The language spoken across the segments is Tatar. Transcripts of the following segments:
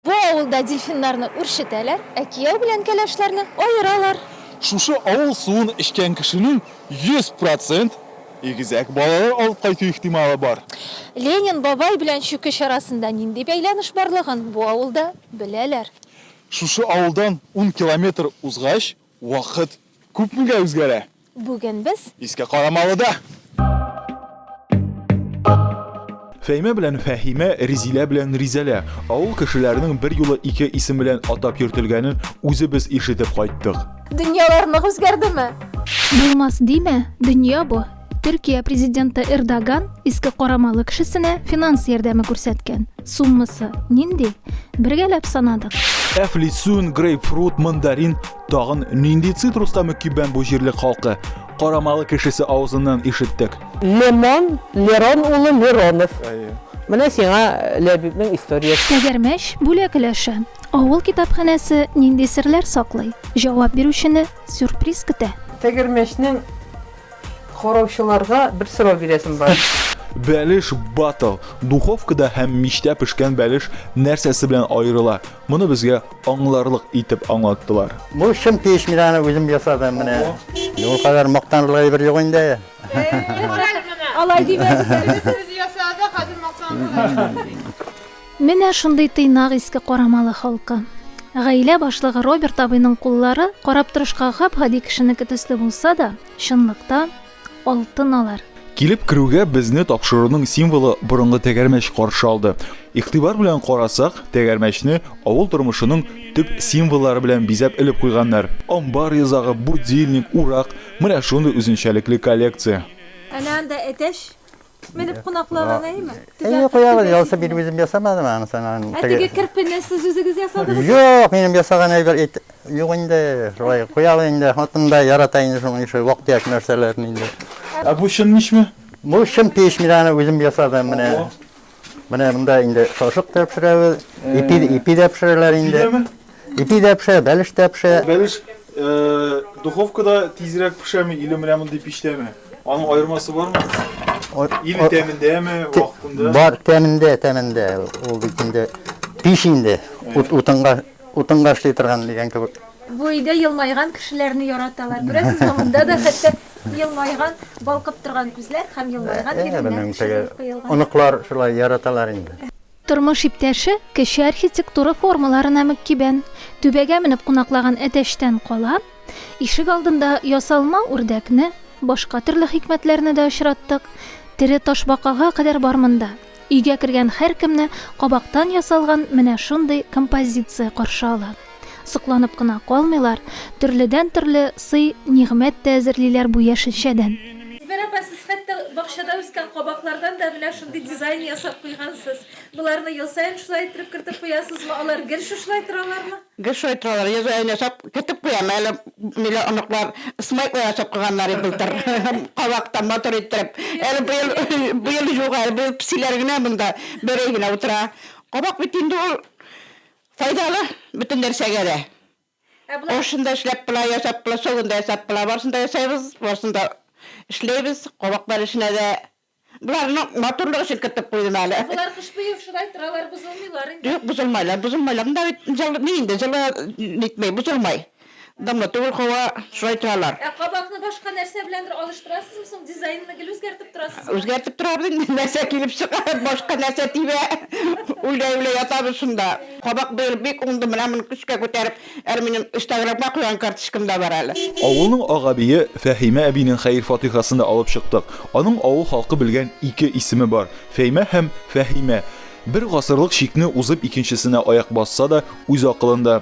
Бу авылда дельфиннарны үрчетәләр, ә кияү белән кәләшләрне аералар. Шушы авыл суын эчкән кешенең 100 процент игезәк балалар алып кайту ихтималы бар. Ленин бабай белән чүкеч арасында нинди бәйләнеш барлыгын бу авылда беләләр. Шушы авылдан ун километр узгач, Вакыт күпмегә үзгәрә? Бүген без. Искә Карамалыда! Фәймә белән Фәһимә, Ризилә белән Ризәлә. Авыл кешеләренең берьюлы ике исем белән атап йөртелгәнен үзебез ишетеп кайттык. Дөньялар нык үзгәрдеме? Булмас димә, дөнья бу. Төркия президенты Эрдоган иске карамалы кешесенә финанс ярдәме күрсәткән. Суммасы нинди? Бергәләп санадык. Әфлисун, грейпфрут, мандарин, тагын нинди цитрус тәме кибән бу җирлек халкы? Карамалы кешесе авызыннан ишеттек. Лемон, Лерон улы Леронов. Менә сиңа Ләбибнең историясе. Тәгәрмәч бүләк өләше. Авыл китапханәсе нинди серләр саклый? Җавап бирүчене сюрприз көтә. Тәгәрмәчнең Караучыларга бер сорау бирәсем бар. Бәлеш батл. Духовкада һәм мичтә пешкән бәлеш нәрсәсе белән аерыла? Моны безгә аңларлык итеп аңлаттылар. Бу чын печ миланы үзем ясадым менә. Ул кадәр мактанлык әйбер юк инде. Алай димәгез әле. Без ясадык, хәзер мактанлык. Менә шундый тыйнак иске карамалы халкы. Гаилә башлыгы Роберт абыйның куллары, карап торышка гап-гади кешенеке төсле булса да, чынлыкта, алтын алар. Килеп керүгә безне тапшыруның символы борынгы тәгәрмәч каршы алды. Игътибар белән карасак, тәгәрмәчне авыл тормышының төп символлары белән бизәп элеп куйганнар. Амбар йозагы, будильник, урак, менә шундый үзенчәлекле коллекция. Әнә анда әтәч, Менеп кунакларга нәйме? Әйе, куябыз. Ялсы бит үзем ясамадым аны санан. Ә теге керпене сез үзегез ясадыгыз? Юк, минем ясаган әйбер ит. Юк инде, шулай куябыз инде. Хатын да ярата инде шуның ише вак-төяк нәрсәләрне инде. Ә бу чын мичме? Бу чын пеш мин аны үзем ясадым менә. Менә монда инде шашык та пешерәбез. Ипи, ипи дә пешерәләр инде. Ипи дә пешә, бәлеш тә пешә. Бәлеш духовкада тизрәк пешәме, иле менә мондый пиштәме? Аның аермасы бармы? Иле тәмендәме, вакытында? Бар, тәмендә, тәмендә. Ул бит инде пич инде. Утынга, утынга эшли торган дигән кебек. Бу өйдә елмайган кешеләрне яраталар. Күрәсезме, монда да хәтта елмайган, балкып торган күзләр һәм елмайган иреннәр пешерелеп куелган. Оныклар шулай яраталар инде. Тормыш иптәше кече архитектура формаларына мөккибән түбәгә менеп кунаклаган әтәчтән кала, ишек алдында ясалма үрдәкне, башка төрле хикмәтләрне дә очраттык, тере ташбакага кадәр бар монда. Өйгә кергән һәркемне кабактан ясалган менә шундый композиция каршы ала. Сокланып кына калмыйлар, төрледән-төрле сый-нигъмәт тә әзерлиләр бу яшелчәдән. Зөбәр апа, сез хәтта бакчада үскән кабаклардан да менә шундый дизайн ясап куйгансыз. Боларны ел саен шулай иттереп кертеп куясызмы? Алар гел шушылай торалармы? Гел шулай торалар. Ел саен ясап кертеп куям. Әле ниләр, оныклар смайклар ясап куйганнар иде былтыр. Кабактан матур иттереп. Әле быел, быел юк әле. Быел песиләр генә монда, берәй генә утыра. Кабак бит инде ул Файдалы бөтен нәрсәгә дә. Ә болай? Ашын да эшләп була, ясап була, согын да ясап була. Барысын да ясыйбыз, барысын да эшләйбез. Кабаклар эченә дә. Боларны матурлык өчен кертеп куйдым әле. Ә болар кыш буе шулай торалар, бозылмыйлар инде. Юк, бозылмайлар. Бозылмайлар. Монда бит җылы, ни инде, җылы нитми, бозылмай. Дымлы түгел куа, шулай торалар. Ә кабакны башка нәрсә беләндер алыштырасызмы соң, дизайнны гел үзгәртеп торасызмы? Үзгәртеп торабыз инде, нәрсә килеп чыга, башка нәрсә тибә, уйлый-уйлый ятабыз шунда. Кабак быел бик уңды, менә моны көчкә күтәреп, әле минем инстаграмга куйган карточкам да бар әле. Авылның ак әбие Фәһимә әбинең хәер-фатихасын да алып чыктык. Аның авыл халкы белгән ике исеме бар, Фәймә һәм Фәһимә. Бер гасырлык чикне узып икенчесенә аяк басса да, үз акылында.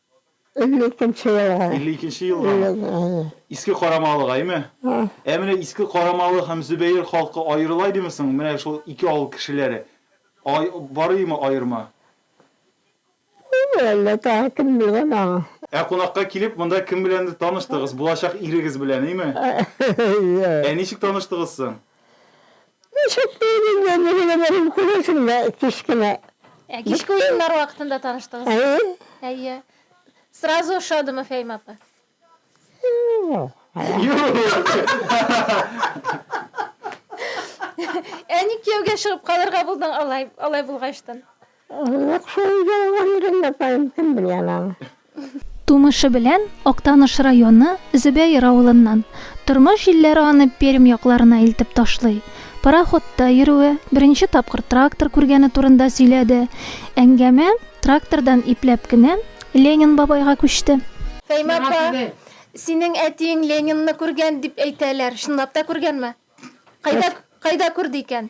Илле икенче елга. Илле икенче елгамы? Иске Карамалыгаймы? Ә менә Иске Карамалы һәм Зөбәер халкы аерыла идеме соң, менә шул ике авыл кешеләре? Ай, бар идеме аерма? Булыр әллә, тагы кем белгән аңа. Ә кунакка килеп, монда кем беләндер таныштыгыз, булачак ирегез белән, име? Әйе. Ә ничек таныштыгыз соң? Мәчәттә идем, янәшәдән күрәсеңдә кечкенә. Ә кичке уеннар вакытында таныштыгыз? Әйе. Әйе. Сразу ошадымы Фәйм апа? Ә ник кияүгә чыгып калырга булдың алай, алай булгачтын? Юк шул өйдә булган идем, апаем, кем белә аны аны. Тумышы белән Актаныш районы Зөбәер авылыннан. Тормыш җилләре аны Пермь якларына илтеп ташлый. Пароходта йөрүе, беренче тапкыр трактор күргәне турында сөйләде. Әңгәмә трактордан ипләп кенә Ленин бабайга күчте. Фәймә апа, синең әтиең Ленинны күргән дип әйтәләр, чынлап та күргәнме? Кайда, кайда күрде икән?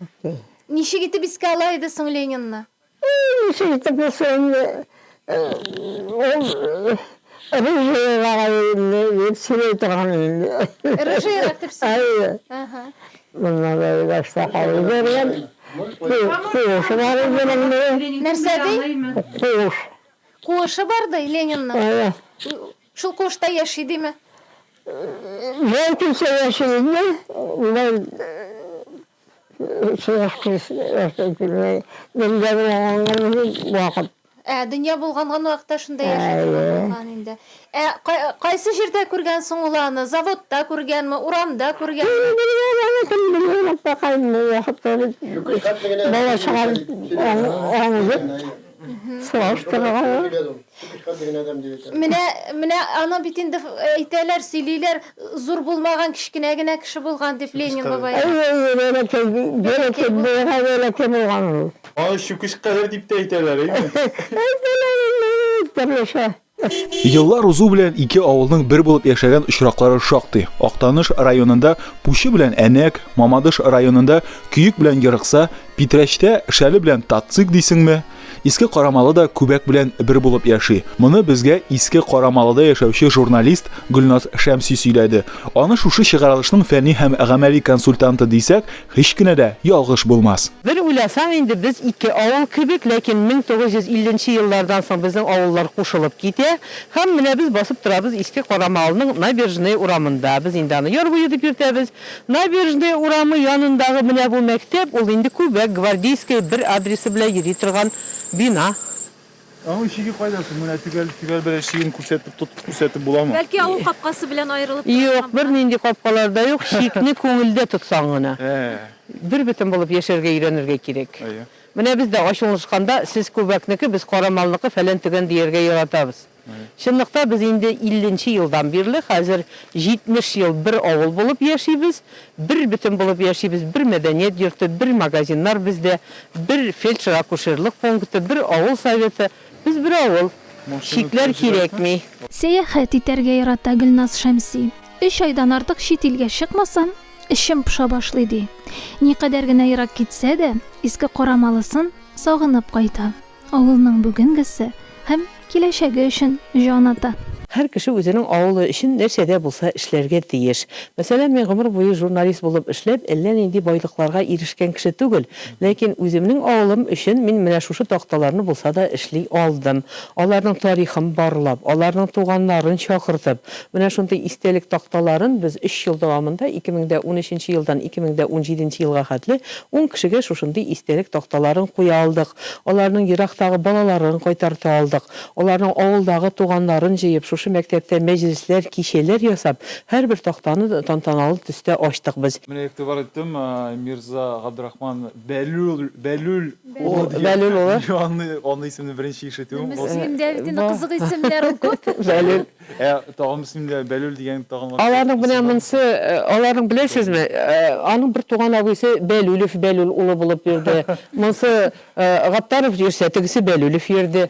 Окей. Ничек итеп искә ала иде соң Ленинны? Ничек итеп искә инде, ул рыжыйлар инде дип сөйли торган инде. Рыжыйлар дип сөйли. Әйе. Моннан да Иләштә калып йөргән. Куышы бар иде мондый. Нәрсә ди? Куыш. Куышы бар ди Ленинның? Әйе. Шул куышта яши диме? Бәлкемчә яши иде, бер сыйныфсыз яши килмәй. Дөнья булган вакыт. Ә, дөнья булганган вакытта шунда яши торган булган инде. Ә кайсы җирдә күргән соң ул аны? Заводта күргәнме, урамда күргәнме? Кем белгән аны, кем белгән, аппакаем, бу вакытта бит бала чага аңы юк. Менә, менә аны бит инде әйтәләр, сөйлиләр, зур булмаган, кечкенә генә кеше булган дип Ленин бабай. Аны чүкеч кадәр дип тә әйтәләр, әйеме? Әйтәләр инде, төрлечә. Еллар узу белән ике авылның бер булып яшәгән очраклары шактый. Актаныш районында Пучы белән Әнәк, Мамадыш районында Көек белән Ерыкса, Питрәчтә Шәле белән Татцик дисеңме? Иске Карамалы да Күбәк белән бер булып яши. Моны безгә Иске Карамалыда яшәүче журналист Гөлназ Шәмси сөйләде. Аны шушы чыгарылышның фәнни һәм гамәли консультанты дисәк, Һич кенә дә ялгыш булмас. Бер уйласаң инде без ике авыл кебек, ләкин 1950 нче еллардан соң безнең авыллар кушылып китә. Һәм менә без басып торабыз Иске Карамалның Набережная урамында. Без инде аны Яр буе дип йөртәбез. Набережная урамы янындагы менә бу мәктәп, ул инде күбәк, Гвардейская бер адресы белән йөри торган бина. Аның чиге кайда соң? Менә төгәл төгәл берәр чиген күрсәтеп тотып күрсәтеп буламы? Бәлки авыл капкасы белән аерылып тора. Юк, бернинди капкалар да юк, чикне күңелдә тотсаң гына. Бербөтен булып яшәргә өйрәнергә кирәк. Менә без дә ачулнышканда, сез күбәкнеке, без кара малныкы, фәлән-төгән дияргә яратабыз. Чынлыкта без инде илленче елдан бирле, хәзер 70 ел бер авыл булып яшибез, Бер бөтен булып яшибез, бер мәдәният йорты, бер магазиннар бездә, бер фельдшер-акушерлык пункты, бер авыл советы. Без бер авыл. Чикләр кирәкми. Сәяхәт итәргә ярата Гөлназ Шәмси. Өч айдан артык чит илгә чыкмасам, эчем поша башлый, ди. Никадәр генә ерак китсә дә, Иске Карамалысын сагынып кайта. Авылның бүгенгесе һәм киләчәге өчен җан ата. Һәр кеше үзенең авылы өчен нәрсә дә булса эшләргә тиеш. Мәсәлән, мин гомер буе журналист булып эшләп, әллә нинди байлыкларга ирешкән кеше түгел, ләкин үземнең авылым өчен мин менә шушы такталарны булса да эшли алдым. Аларның тарихын барлап, аларның туганнарын чакыртып, менә шундый истәлек такталарын без өч ел дәвамында, 2013 елдан 2017 елга хәтле ун кешегә шушындый истәлек такталарын куя алдык. Аларның ерактагы балаларын кайтарта алдык. Аларның авылдагы туганнарын җыеп, шушы мәктәптә мәҗлесләр, кичәләр ясап, һәрбер тактаны тантаналы төстә ачтык без. Менә игътибар иттем, Мирза Габдрахман Бәлүл, Бәлүл улы дип. Бәлүл улы. Аны исемне беренче ишетүем. Мөслим Дәвитине кызык исемнәр ул күп. Бәлүл. Ә тагын исемле Бәлүл дигән тагын башка. Аларның менә монсы, аларның беләсезме, аның бер туган абыйсы Бәлүлев Бәлүл улы булып йөрде. Монсы Гаттаров йөрсә, тегесе Бәлүлев йөрде.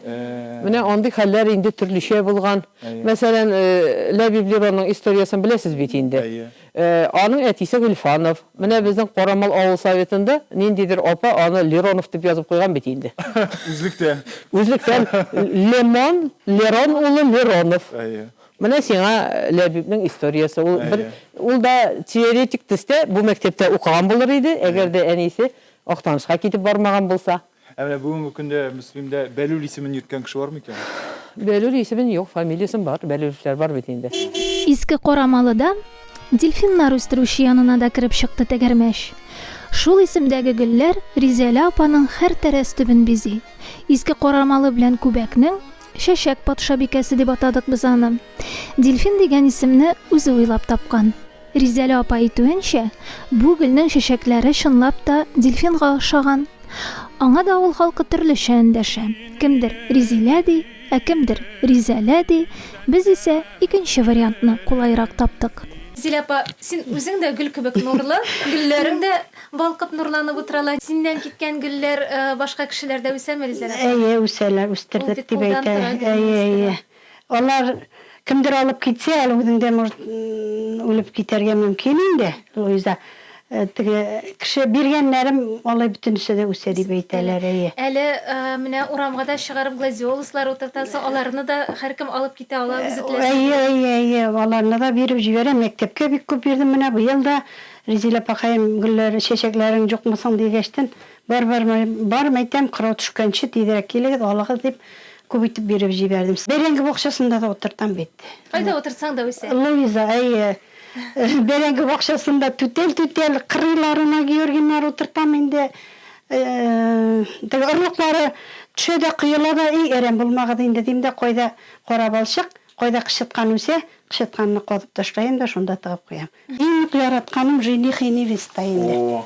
Менә андый хәлләр инде төрлечә булган. Мәсәлән, Ләбиб Леронның историясен беләсез бит инде. Аның әтисе Гөлфанов. Менә безнең Карамал авыл советында ниндидер апа аны Леронов дип язып куйган бит инде. Үзлектә. Үзлектән Лемон, Лерон улы Леронов. Әйе. Менә сиңа Ләбибнең историясе. Ул бер, ул да теоретик төстә бу мәктәптә укыган булыр иде, әгәр дә әнисе Актанышка китеп бармаган булса. Ә менә бүгенге көндә Мөслимдә Бәлүл исемен йөрткән кеше бармы икән? Бәлүл исемен юк, фамилиясен бар, Бәлүлевләр бар бит инде. Иске Карамалыда дельфиннар үстерүче янына да кереп чыкты тәгәрмәч. Шул исемдәге гөлләр Ризәлә апаның һәр тәрәз төбен бизи. Иске Карамалы белән Күбәкнең Чәчәк патшабикәсе дип атадык без аны. Дельфин дигән исемне үзе уйлап тапкан. Ризәлә апа әйтүенчә, бу гөлнең чәчәкләре чынлап та дельфинга охшаган. Аңа да авыл халкы төрлечә эндәшә. Кемдер Ризилә ди, ә кемдер Ризәлә ди, без исә икенче вариантны кулайрак таптык. Зилә апа, син үзең дә гөл кебек нурлы, гөлләрең дә балкып нурланып утыралар. Синнән киткән гөлләр башка кешеләрдә үсәме, Ризәлә апа? Әйе, үсәләр, үстердек дип әйтәләр. Әйе, әйе. Алар кемдер алып китсә, әле үзең дә, может, үлеп китәргә мөмкин инде, Луиза. Теге кеше биргәннәрем алай бөтенесе дә үсә дип әйтәләр, әйе. Әле менә урамга да чыгарып гладиолуслар утыртасы, аларны да һәркем алып китә ала, үзе теләсә кем. Әйе, әйе, әйе, аларны да биреп җибәрәм. Мәктәпкә бик күп бирдем, менә быел да, Ризилә апакаем, гөлләр, чәчәкләрең җукмы соң, дигәчтен, Бар, бар, бар, мәйтәм, кырау төшкәнче тизрәк килегез, алыгыз, дип, Күп итеп биреп җибәрдем. Бәрәңге бакчасында да утыртам бит. Кайда утыртсаң да үсә. Луиза, әйе. Бәрәңге бакчасында түтәл-түтәл кырыйларына георгиннар утыртам инде. Теге орлыклары төшә дә коела да, әй, әрәм булмагыз инде, дим дә, кайда кара балчык, кайда кычыткан үсә, кычытканны казып ташлаем да, шунда тыгып куям. Иң нык яратканым жених и невеста инде. О,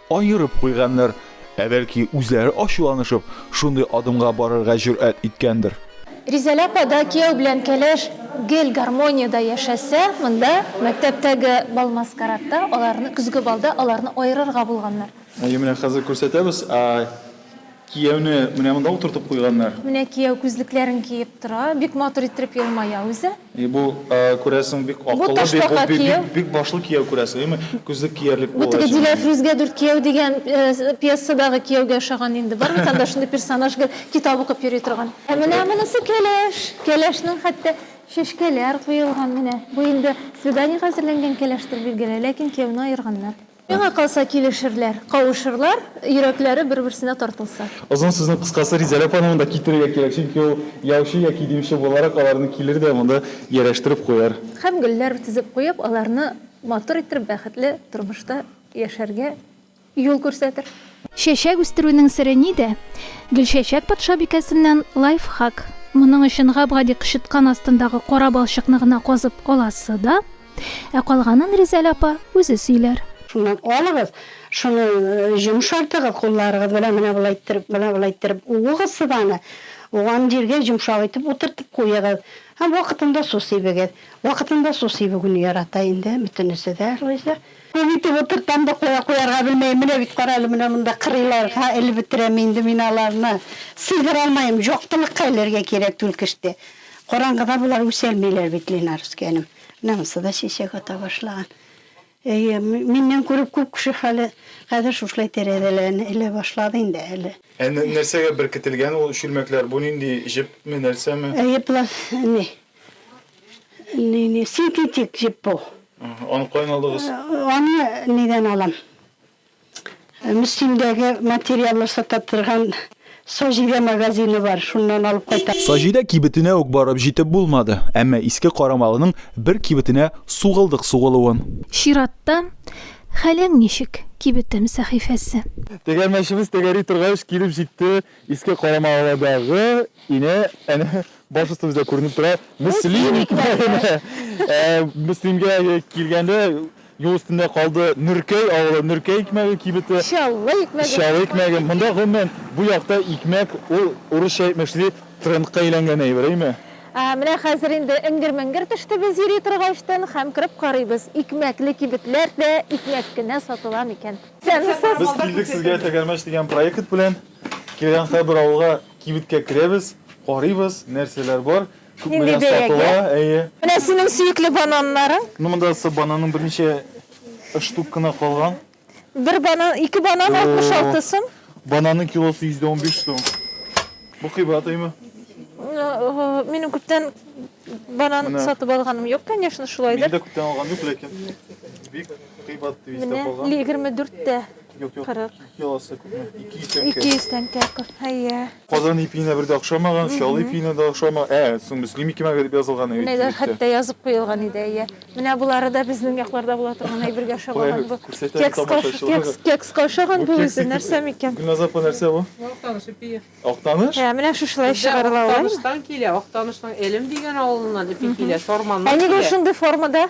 Аерып куйганнар. Ә бәлки, үзләре ачуланышып, шундый адымга барырга җөрьәт иткәндер? Ризәлә апа да кияү белән кәләш гел гармониядә яшәсә, монда, мәктәптәге бал-маскарадта, аларны, көзге балда аларны аерырга булганнар. Әйе, менә хәзер күрсәтәбез. Кияүне менә монда утыртып куйганнар. Менә кияү күзлекләрен киеп тора, бик матур иттереп елмая үзе. И бу, күрәсең, бик акыллы, бик, бик башлы кияү, күрәсең, әйме? Күзлек киярлек булгач. Бу теге Диләфрүзгә дүрт кияү дигән пьесадагы кияүгә ошаган инде. Бар бит анда шундый персонаж, гел китап укып йөри торган. Ә менә монысы кәләш. Кәләшнең хәтта чәчкәләр куелган менә. Бу инде свиданиегә әзерләнгән кәләштер, билгеле, ләкин кияүне аерганнар. Миңа калса, килешерләр, кавышырлар, йөрәкләре бер-берсенә тартылса. Озын сүзнең кыскасы, Ризәлә апаны монда китерергә кирәк, чөнки ул яучы яки димче буларак аларны килер дә монда ярәштереп куяр. Һәм гөлләр тезеп куеп, аларны матур иттереп, бәхетле тормышта яшәргә юл күрсәтер. Чәчәк үстерүнең сере нидә? Гөлчәчәк патшабикәсеннән лайфхак. Моның өчен гап-гади кычыткан астындагы кара балчыкны гына казып аласы да. Ә калганын Ризәл апа үзе сөйләр. Шуннан алыгыз, шуны йомшартыгыз кулларыгыз белән, менә болай иттереп, менә болай иттереп уыгыз сыбаны, уган җиргә йомшак итеп утыртып куегыз һәм вакытында су сибегез. Вакытында су сибүгене ярата инде бөтенесе дә, Луиза. Күп итеп утыртам да куя, куярга белмәем, менә бит кара әле, менә монда кырыйлар, һа, элеп бетерәм инде мин аларны, сыйдыра алмаем, җактылыкка элергә кирәк түлкеште, караңгыда болар үсәлмиләр бит, Ленарыскәнем. Намусы да чәчәк ата башлаган. Әйе, миннән күреп күп кеше хәле хәзер шушылай тәрәзәләрен элә башлады инде әле. Ә нәрсәгә беркетелгән ул чүлмәкләр? Бу нинди, җепме, нәрсәме? Әйе, пласт, ни, ни, ни, синтетик җеп бу. Аны каян алдыгыз? Аны нидән алам? Мөслимдәге материаллар сата торган Саҗидә магазины бар, шуннан алып кайтам. Саҗидә кибетенә үк барып җитеп булмады, әмма Иске Карамалының бер кибетенә сугылдык сугылуын. Чиратта, Хәлең ничек, кибетем сәхифәсе. Тегәрмәчебез тәгәри торгач, килеп җитте Иске Карамаладагы ине, әнә, баш өстебездә күренеп тора, Мөслим икмәгенә! Мөслимгә килгәндә, Юл өстендә калды Нөркәй авылы, Нөркәй икмәге кибете. Чаллы икмәге. Чаллы икмәге. Монда, гомумән, бу якта икмәк, ул, урысча әйтмәкче ди, трендка әйләнгән әйбер, әйме? Ә, менә хәзер инде эңгер-меңгер төште без йөри торгачтын һәм кереп карыйбыз, икмәкле кибетләр дә икмәк кенә сатыла микән? Тәмсез. Без килдек сезгә Тәгәрмәч дигән проект белән. Килгән һәрбер авылга, кибеткә керәбез, карыйбыз, нәрсәләр бар, Нинди бәягә? Әйе. Менә синең сөекле бананнарың. Ну монда бананның берничә штук кына калган. Бер банан, ике банан 66 сум. Бананның килосы 115 сум. Бу кыйбат әйме? Минем күптән банан сатып алганым юк, конечно, шулайдыр. Мин дә күптән алган юк, ләкин бик кыйбат дип истә калган. Менә 24 тә. Юк, юк. 40. Килосы күпме? 200 тәңкә. 200 тәңкә. Әйе. Казан ипиенә бер дә охшамаган, чал ипиенә дә охшама. Ә, соң Мөслим икемәгә дип язылган әйе. Менә хәтта язып куелган иде, әйе. Менә булары да безнең якларда була торган әйбергә охшамаган бу. Кекска охшаган бу үзе, нәрсә микән? Гөлназ апа, нәрсә бу? Актаныш ипие. Актаныш? Ә, менә шушылай чыгарыла ул. Актаныштан килә, Актанышның Элем дигән авылыннан ипи килә, Сарманнан килә. Ә нигә шундый формада?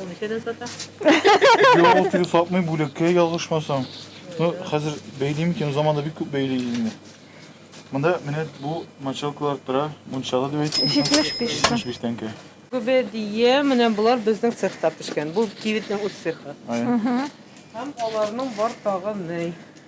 Ул ничәдән сата? Юк, теге сатмый бүлеккә ялгышмасам. Ну, хәзер бәйлим икән, заманда бик күп бәйли инде. Монда менә бу мочалкалар тора, мунчалы дип әйтсәм. 75 сум. 75 тәңкә. Күбе дие, менә булар безнең цехта пешкән. Бу кибетнең үз цехы. Ай. Һәм аларның бар тагы ней.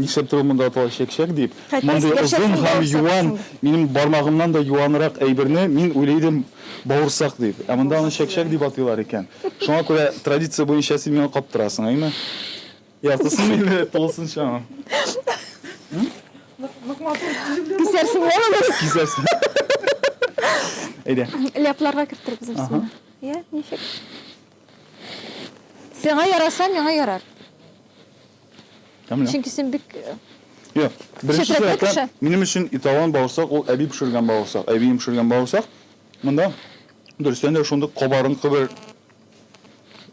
Нишләптер ул монда атала чәкчәк дип. Мондый озын һәм юан, минем бармагымнан да юанрак әйберне мин уйлый идем бавырсак дип. Ә монда аны чәкчәк дип атыйлар икән. Шуңа күрә традиция буенча син миңа каптырасың, әйме? Яртысынмы или тулысынчамы? Кисәрсең әле аны. Кисәрсең. Әйдә. Ляпларга кертер без аны. Йә, ничек? Сиңа яраса, миңа ярар. Камилә. Чөнки син бик Юк, беренче Читрәкле чиратта кеше. минем өчен италон бавырсак ул әби пешергән бавырсак, әбием пешергән бавырсак. Монда дөрестән дә шундый кабарынкы бер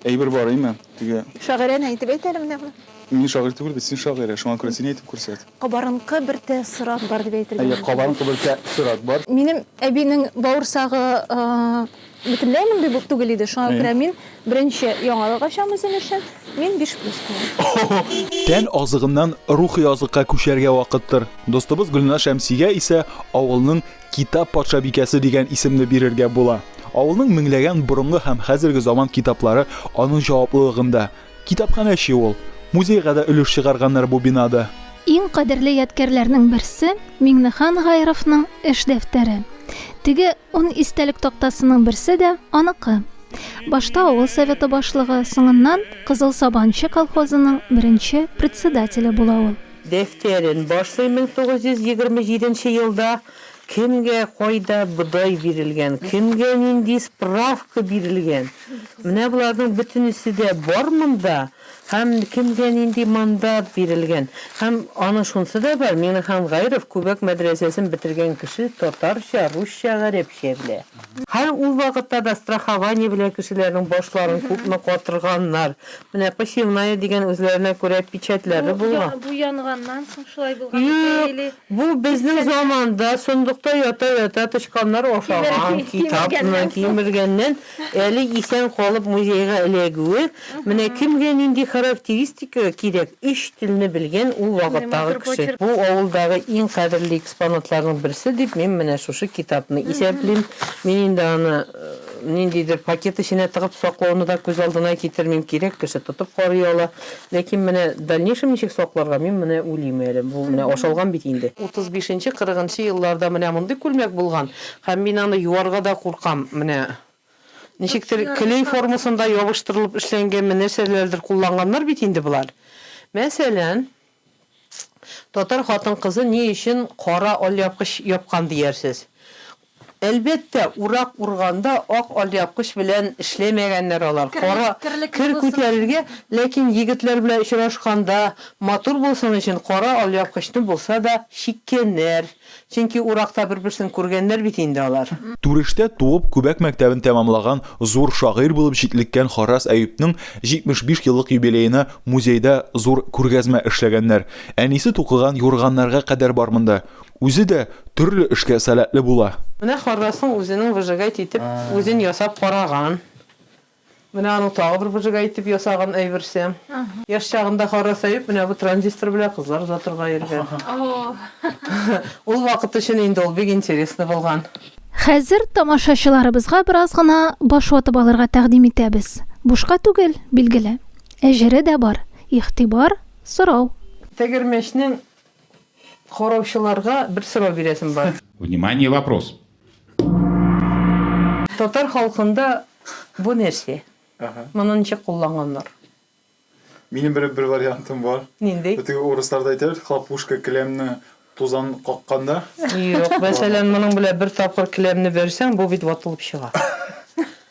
әйбер бар име? Теге шагыйрәне әйтеп әйт әле менә бу. мин шагыйрь түгел бит, син шагыйрә, шуңа күрә син әйтеп күрсәт. Кабарынкы бер тәэссорат бар дип әйтергә Әйе, мөмкин. кабарынкы бер тәэссорат бар. Минем әбинең бавырсагы э, Бөтенләй мондый булып түгел иде, шуңа күрә мин беренче яңалык ачам үзем өчен, мин биш плюс куям. Тән азыгыннан рухи азыкка күчәргә вакыттыр. Дустыбыз Гөлназ Шәмсигә исә авылның Китап патшабикәсе дигән исемне бирергә була. Авылның меңләгән борынгы һәм хәзерге заман китаплары аның җаваплылыгында. Китапханәче ул. Музейга да өлеш чыгарганнар бу бинада. Иң кадерле ядкярләрнең берсе, Миңнехан Гайровның эш дәфтәре. Теге Ун истәлек тактасының берсе дә аныкы. Башта авыл советы башлыгы, соңыннан Кызыл Сабанчы колхозының беренче председателе була ул. Дәфтәрен башлый 1927 нче елда Кемгә, кайда бодай бирелгән, кемгә нинди справка бирелгән, менә боларның бөтенесе дә бар монда. Һәм кемгә нинди мандат бирелгән. Һәм аны шунсы да бар, Миңнехан Гайров Күбәк мәдрәсәсен бетергән кеше татарча, русча, гарәпчә белә. Һәр ул вакытта да страхование белән кешеләрнең башларын күпме катырганнар. Менә посевная дигән үзләренә күрә печатьләре булган. Бу янганнан соң шулай булган микән или? Юк, бу безнең заманда, сондыкта ята-ята тычканнар ашаган китапны кимергәннән Әле исән калып музейга эләгүе, менә кемгә нинди характеристика кирәк, өч телне белгән ул вакыттагы кеше. Бу авылдагы иң кадерле экспонатларның берсе дип мин менә шушы китапны исәплим. Мин инде аны ниндидер пакет эченә тыгып саклауны да күз алдына китермим, кирәк кеше тотып карый ала. Ләкин менә дальнейшем ничек сакларга, мин менә уйлыйм әле. Бу менә ашалган бит инде. Утыз бишенче-кырыгынчы елларда менә мондый күлмәк булган, Һәм мин аны юарга да куркам. Менә ничектер клей формасында ябыштырылып эшләнгәнме, нәрсәләрдер кулланганнар бит инде болар. Мәсәлән, татар хатын-кызы ни өчен кара алъяпкыч япкан диярсез? Әлбәттә, урак урганда ак алъяпкыч белән эшләмәгәннәр алар. Кара, кер күтәрергә, ләкин егетләр белән очрашканда, матур булсын өчен кара алъяпкычны булса да чиккәннәр. Чөнки уракта бер-берсен күргәннәр бит инде алар. Түрештә туып, Күбәк мәктәбен тәмамлаган зур шагыйрь булып җитлеккән Харрас Әюпнең 75 еллык юбилеена музейда зур күргәзмә эшләгәннәр. Әнисе тукыган юрганнарга кадәр бар монда. Үзе дә төрле эшкә сәләтле була. Менә Харрасның үзенең выжигать итеп үзен ясап караган. Менә аның тагы бер выжигай итеп ясаган әйберсе. Яшь чагында харасаеп, менә бу транзистор белән кызлар озатырга йөргән. Ул вакыт өчен инде ул бик интересный булган. Хәзер тамашачыларыбызга бераз гына баш ватып алырга тәкъдим итәбез. Бушка түгел, билгеле. Әҗере дә бар. Игътибар сорау. Тәгәрмәчнең Караучыларга бер сорау бирәсем бар. Внимание вопрос. Татар халкында бу нәрсә? Моны ничек кулланганнар? Минем бер бер вариантым бар. Нинди? Бу теге урысларда әйтәләр, хлопушка келәмне тузан какканда. Юк, мәсәлән, моның белән бер тапкыр келәмне бәрсәң, бу бит ватылып чыга.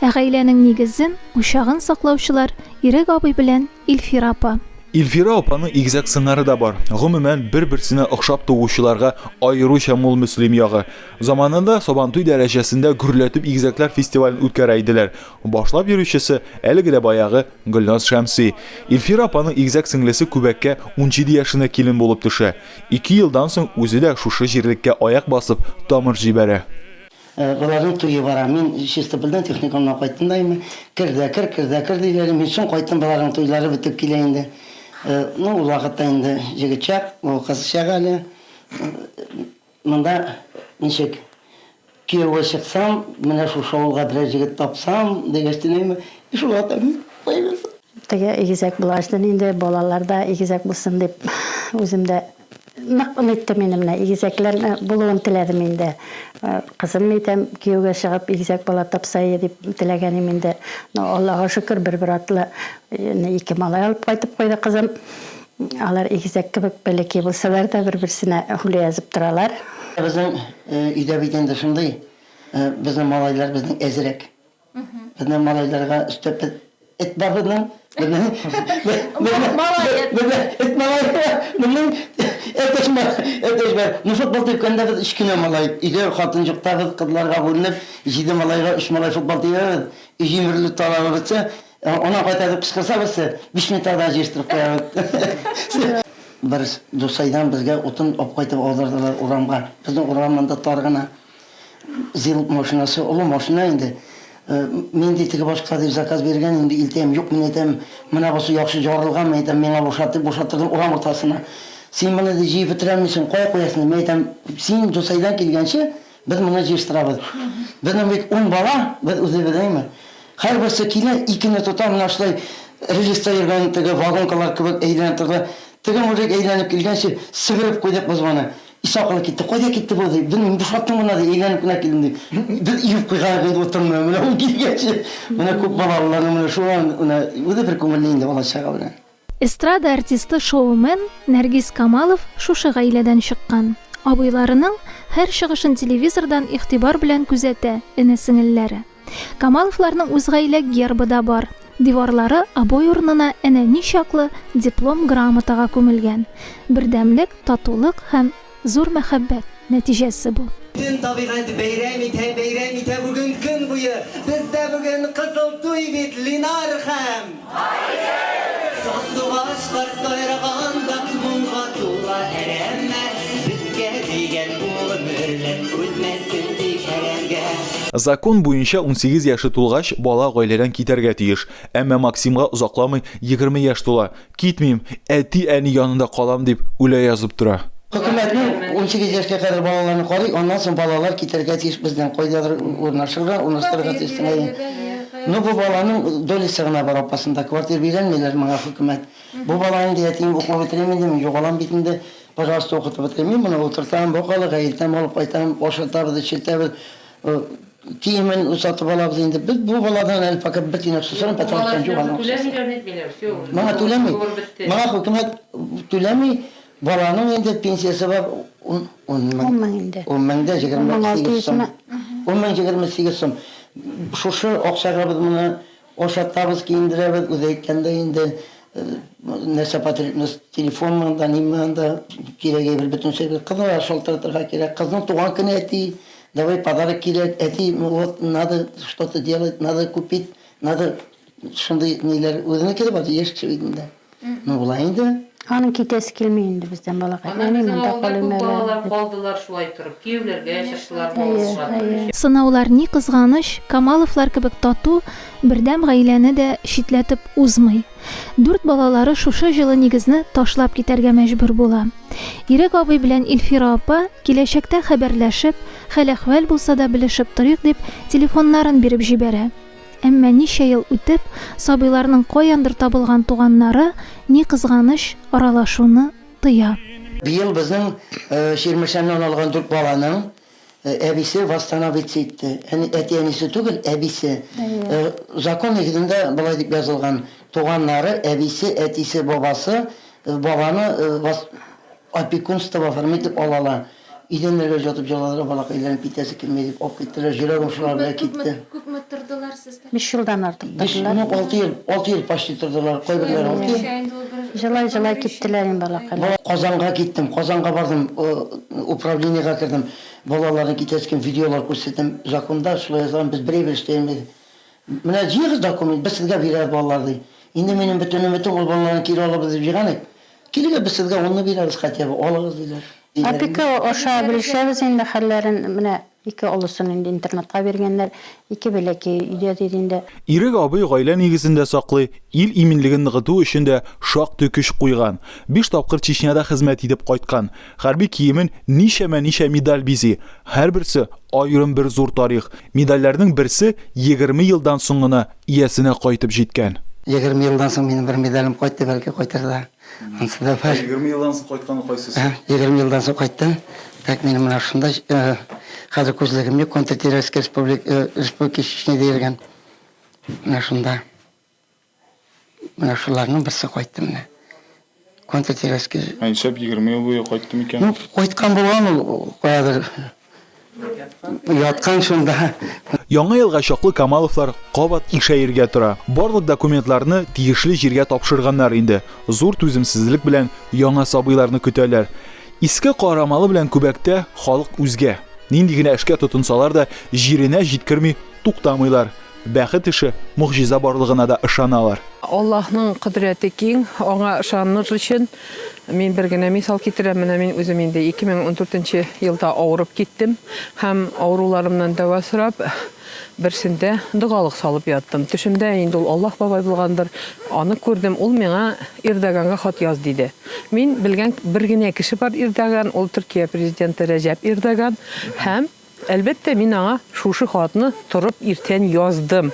Ә гаиләнең нигезен, учагын саклаучылар, Ирек абый белән Илфира апа. Илфира апаның игезәк сыңары да бар. Гомумән, бер-берсенә охшап туучыларга аеруча мул Мөслим ягы. Заманында Сабантуй дәрәҗәсендә гөрләтеп игезәкләр фестивален үткәрә иделәр. Башлап йөрүчесе, әлеге дә баягы, Гөлназ Шәмси. Илфира апаның игезәк сеңлесе Күбәккә унҗиде яшенә килен булып төшә. Ике елдан соң үзе дә шушы җирлеккә аяк басып, тамыр җибәрә. Боларның туе бара. Мин Чистопольдән техникумнан кайттым да инде. Кер дә кер, кер дә кер, диләр. Мин соң кайттым, боларның туйлары бетеп килә инде. Ну, ул вакытта инде җегет чак, ул кыз чак әле. Монда ничек, кияүгә чыксам, менә шушы авылга берәр җегет тапсам, дигәч тә нәйме, и шул ата мин, куя бирсен. Теге игезәк булгач та нинди балалар да игезәк булсын дип, үзем дә. Нык оныттым инде менә, игезәкләр булуын теләдем инде. Кызым, әйтәм, кияүгә чыгып, игезәк бала тапсаие дип теләгән им инде. Ну, Аллага шөкер, бер-бер артлы ике малай алып кайтып куйды кызым. Алар игезәк кебек бәләкәй булсалар да, бер-берсенә һүлә язып торалар. Безнең өйдә бит инде шундый, безнең малайлар безнең әзрәк. Менә малайларга өстәп без эт бабының менә Малаец. Менә эт малае моның әтәч әтәч бар. Ну футбол типкәндә без өч кенә малай өйдә хатын җукта без кызларга бүленеп җиде малайга өч малай футбол тибәбез. Өй җимерелеп талабы бетсә, аннан кайта дип кычкырса берсе, биш минутта да җыештырып куябыз. Бер дусайдан безгә утын алып кайтып аудырдылар урамга. Безнең урам монда тар гына. Зил машинасы, олы машина инде. Минди теге башка дип заказ биргән инде, илтәем, юк мин әйтәм, менә бусы яхшы җарылган, мин әйтәм, миңа бушат дип бушаттырдым урам уртасына. Син моны ди җыеп бетерә алмыйсың, кая куясың? Мин әйтәм, син Дусайдан килгәнче без моны җыештырабыз. Безнең бит ун бала, без үзебез әйме. Һәрберсе килә, икене тота, менә шулай рельста йөргән теге вагонкалар кебек әйләнеп торды. Теге мужик әйләнеп килгәнче себереп куйдык без моны. Исхакова китте. Кайда китте бу, ди. Белмим, бушаттым гына, ди, әйләнеп кенә килдем, ди. Без иеп куйган инде утынны, менә ул килгәч, менә күп балалыларның менә шуңа менә үзе бер күңелле инде бала-чага белән. Эстрада артисты-шоумен Нәргиз Камалов шушы гаиләдән чыккан. Абыйларының һәр чыгышын телевизордан игътибар белән күзәтә эне-сеңелләре. Камаловларның үз гаилә гербы да бар. Диварлары обой урынына әнә ничаклы диплом-грамотага күмелгән. Бердәмлек, татулык һәм зур мәхәббәт нәтиҗәсе бу. Бөтен табигать бәйрәм итә, бәйрәм итә бүген көн буе. Бездә бүген кызыл туй бит, Линар һәм. Закон буенча 18 яше тулгач, бала гаиләдән китәргә тиеш. Әмма Максимга озакламый 20 яшь тула. Китмим, әти-әни янында калам, дип үлә язып тора. Хөкүмәтнең 18 яшькә кадәр балаларны карый, аннан соң балалар китәргә тиеш бездән, кайдадыр урнашырга, урнаштырырга тиеш. Ну бу баланың долясы гына бар апасында, квартир бирәлмиләр моңа хөкүмәт. Бу бала инде әтием укуы бетерим инде мин югалам бит инде, пожалуйста укытып бетерим, мин моны утыртам, бакалы гаилтәм алып кайтам, ашатабыз, эчертәбез, киемен сатып алабыз инде, без бу баладан әле пока бер тиен акча сорам, пәтер алып торам юк аның акчасы. Моңа түләми, моңа хөкүмәт түләми. Баланың инде пенсиясе бар ун ун мең. Ун мең инде. Ун мең дә егерме сигез сум. Ун мең егерме сигез сум. Шушы акчага без моны ашатабыз, киендерәбез, үзе әйткәндәй инде, нәрсә потребность, телефонмы анда, ниме анда, кирәк әйбер бөтенчә бит. Кызны да шалтыратырга кирәк. Кызның туган көне, әти, давай подарок кирәк, әти, вот надо что-то делать, надо купить, надо. Шундый ниләр үзенеке дә бар, яшь кеше бит инде. Ну болай инде. Аның китәсе килми инде бездән балакай. Әни Аннан безнең монда авылда калыйм күп әле. балалар дип. калдылар шулай торып. Кияүләргә чыктылар, бала Әйе, туганнар әйе. өчен. Сынаулар, ни кызганыч, Камаловлар кебек тату, бердәм гаиләне дә читләтеп узмый. Дүрт балалары шушы җылы нигезне ташлап китәргә мәҗбүр була. Ирек абый белән Илфира апа, киләчәктә хәбәрләшеп, хәл-әхвәл булса да белешеп торыйк дип, телефоннарын биреп җибәрә. Әмма ничә ел үтеп, сабыйларның каяндыр табылган туганнары, ни кызганыч, аралашуны тыя. Быел безнең Чирмешәннән алган дүрт баланың әбисе восстановиться итте. Әти-әнисе түгел, әбисе. Закон нигезендә болай дип язылган, туганнары, әбисе, әтисе, бабасы баланы Опекунство в оформи дип алалар. Идәннәргә җатып җыладылар, балакайларым китәсе килми дип алып киттеләр, җөрәгем шулар белән китте. Күпме тордылар сездә? Биш елдан артык тордылар. Без, ну, алты ел, алты ел почти тордылар, кайберләре алты ел. Җылай-җылай киттеләр инде балакайлар. Казанга киттем, Казанга бардым, управлениегә кердем, балаларны китәсе килми, видеолар күрсәтәм, законда шулай язылган, без бер әйбер дә эшли алмыйбыз. Менә җыегыз документ, без сезгә бирәбез балалар, ди. Инде минем бөтен өметем, ул балаларны кире алырбыз дип җыйган идек. Килегез, без сезгә онны бирәбез хотя бы, алыгыз, диләр. Опека аша белешәбез инде хәлләрен, менә ике олысын инде интернатка биргәннәр, ике бәләкәе өйдә, диде инде. Ирек абый гаилә нигезен дә саклый, ил иминлеген ныгыту өчен дә шактый көч куйган. Биш тапкыр Чечняда хезмәт итеп кайткан. Хәрби киемен ничәмә-ничә медаль бизи. Һәрберсе, аерым бер зур тарих. Медальләрнең берсе егерме елдан соң гына иясенә кайтып җиткән. Егерме елдан соң минем бер медалем кайтты, бәлки кайтыр да. Ансы да бар. Ә егерме елдан соң кайтканы кайсысы? Ә, егерме елдан соң кайтты. Так, минем менә шундай, э, хәзер күзлегем юк, контртеррористская республик, э, республики Чечня диелгән. Менә шунда. Менә шуларның берсе кайтты менә. Конта Теряски. Ә нишләп егерме ел буе кайттым икән? Ну, кайткан булган ул каядыр. Яткан шунда. Яңа елга чаклы Камаловлар кабат ишәергә тора. Барлык документларны тиешле җиргә тапшырганнар инде. Зур түземсезлек белән яңа сабыйларны көтәләр. Иске Карамалы белән Күбәктә халык үзгә. Нинди генә эшкә тотынсалар да, җиренә җиткерми туктамыйлар. Бәхет эше, могҗиза барлыгына да ышаналар. Аллаһның кодрәте киң, аңа ышаныр өчен мин бер генә мисал китерәм, менә мин үзем инде 2014 нче елда авырып киттем һәм авыруларымнан дәва сорап, берсендә догалык салып яттым. Төшемдә инде ул Аллаһ бабай булгандыр, аны күрдем, ул миңа Ирдоганга хат яз диде. Мин белгән бер генә кеше бар Ирдоган, ул Төркия президенты Рәҗәп Ирдоган һәм Әлбәттә, мин аңа шушы хатны торып иртән яздым.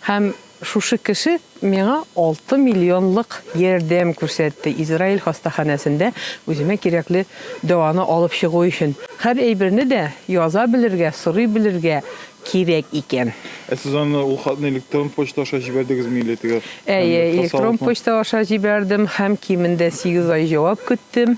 Һәм шушы кеше миңа алты миллионлык ярдәм күрсәтте, Израиль хастаханәсендә үземә кирәкле дәваны алып чыгу өчен. Һәр әйберне дә яза белергә, сорый белергә кирәк икән. Ә сез аны, ул хатны электрон почта аша җибәрдегезме или теге Әйе, электрон почта аша җибәрдем һәм кимендә сигез ай җавап көттем.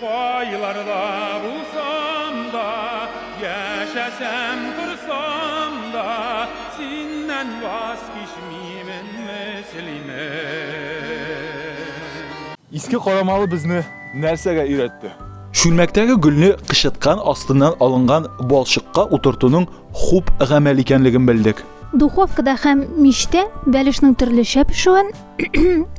Кайларда булсам да, яшәсәм торсам да, синнән ваз кичмимен, Мөслимем. Иске Карамалы безне нәрсәгә өйрәтте? Чүлмәктәге гөлне кычыткан астыннан алынган балчыкка утыртуның хуп гамәл икәнлеген белдек. Духовкада һәм мичтә бәлешнең төрлечә пешүен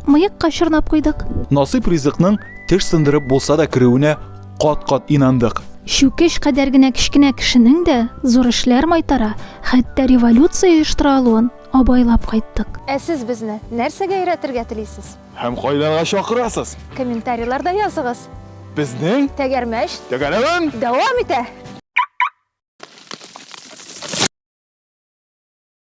Мыекка чорнап куйдык. Насыйп ризыкның теш сындырып булса да керүенә кат-кат инандык. Чүкеч кадәр генә кечкенә кешенең дә зур эшләр майтара, хәтта революция оештыра алуын абайлап кайттык. Ә сез безне нәрсәгә өйрәтергә телисез? Һәм кайларга чакырасыз? Комментарийларда языгыз. Безнең Тәгәрмәч тәгәрәвен! дәвам итә!